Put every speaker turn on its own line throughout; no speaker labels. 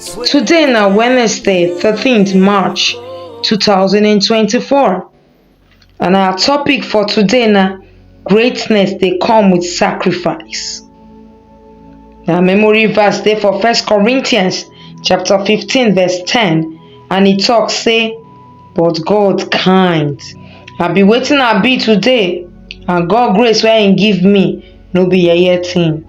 Today na Wednesday, 13th March 2024 and our topic for today na greatness dey come with sacrifice. Na memory verse dey for First Corinthians chapter 15 verse 10 and e talk say, but God kind. I be wetin I be today and God grace wey im give me no be yeye thing.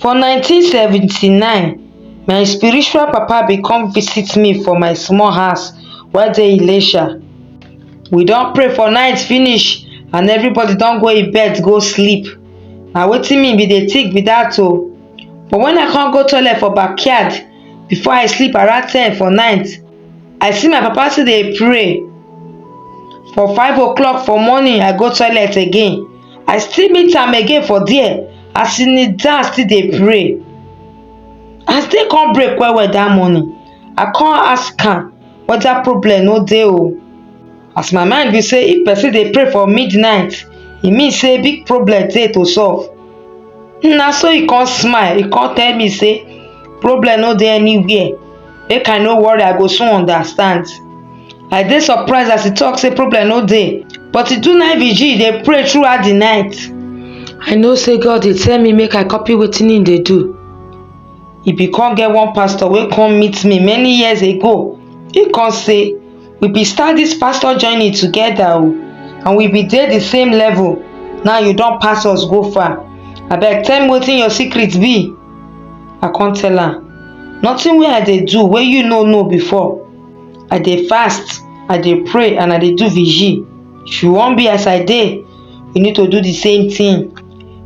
for 1979 my spiritual papa bin come visit me for my small house wey dey ilesha we don pray for night finish and everybody don go im bed go sleep na wetin me bin dey think be dat o but wen i come go toilet for backyard before i sleep around ten for night i see my papa still dey pray for five o clock for morning i go toilet again i still meet am again for there as he kneel down still dey pray as day come break well well that morning i come ask am whether problem no dey o as my mind be say if person dey pray for midnight e mean say big problem dey to solve na so he come smile he come tell me say problem no dey anywhere make i no worry i go soon understand i dey surprised as e talk say problem no dey but e do night vigil dey pray throughout the night i know say god dey tell me make i copy wetin he dey do e bin come get one pastor wey come meet me many years ago he come say we bin start this pastor journey together o and we bin dey the same level now you don pass us go far abeg tell me wetin your secret be I come tell am, nothing wey I dey do wey you no know before. I dey fast, I dey pray and I dey do vigil. If you wan be as I dey, you need to do the same thing.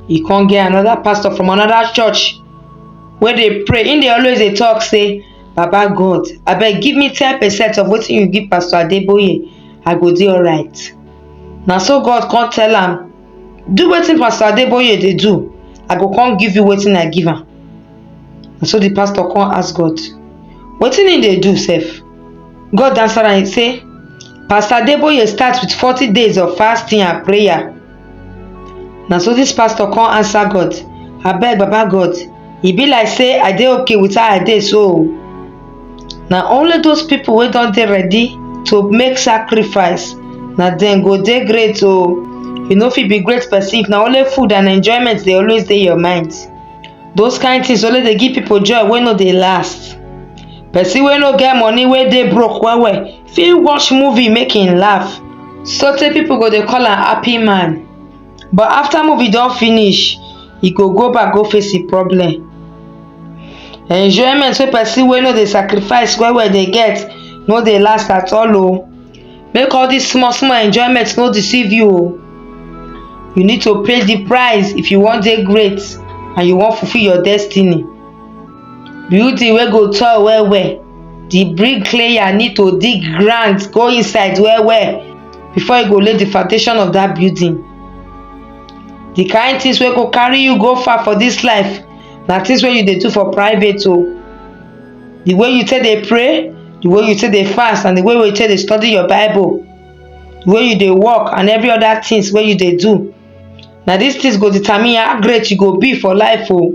E come get another pastor from another church wey dey pray. He dey always dey talk say, Baba God, abeg give me ten percent of wetin you give Pastor Adeboye, I go dey alright. Na so God come tell am, do wetin pastor adeboye dey do i go come give you wetin i give am na so the pastor come ask god wetin he dey do sef god answer am he say pastor adeboye start with forty days of fasting and prayer na so this pastor come answer god abeg baba god e be like say i dey okay with how i dey so o na only those people wey don dey ready to make sacrifice na dem go dey great o you no fit be great person if na only food and enjoyment dey always dey your mind those kind things only dey give people joy wey no dey last person wey no get money wey dey broke well well fit watch movie make im laugh sotey people go dey call am happy man but after movie don finish e go go back go face e problem enjoyment wey person wey no dey sacrifice well well dey get no dey last at all o make all this small small enjoyment no deceive you o you need to pay the price if you wan dey great and you wan fulfil your destiny building wey go tall well well the bricklayer need to dig ground go inside well well before you go lay the foundation of that building the kind things wey go carry you go far for this life na things wey you dey do for private o the way you take dey pray the way you take dey fast and the way you take dey study your bible the way you dey work and every other things wey you dey do na these things go determine how great you go be for life o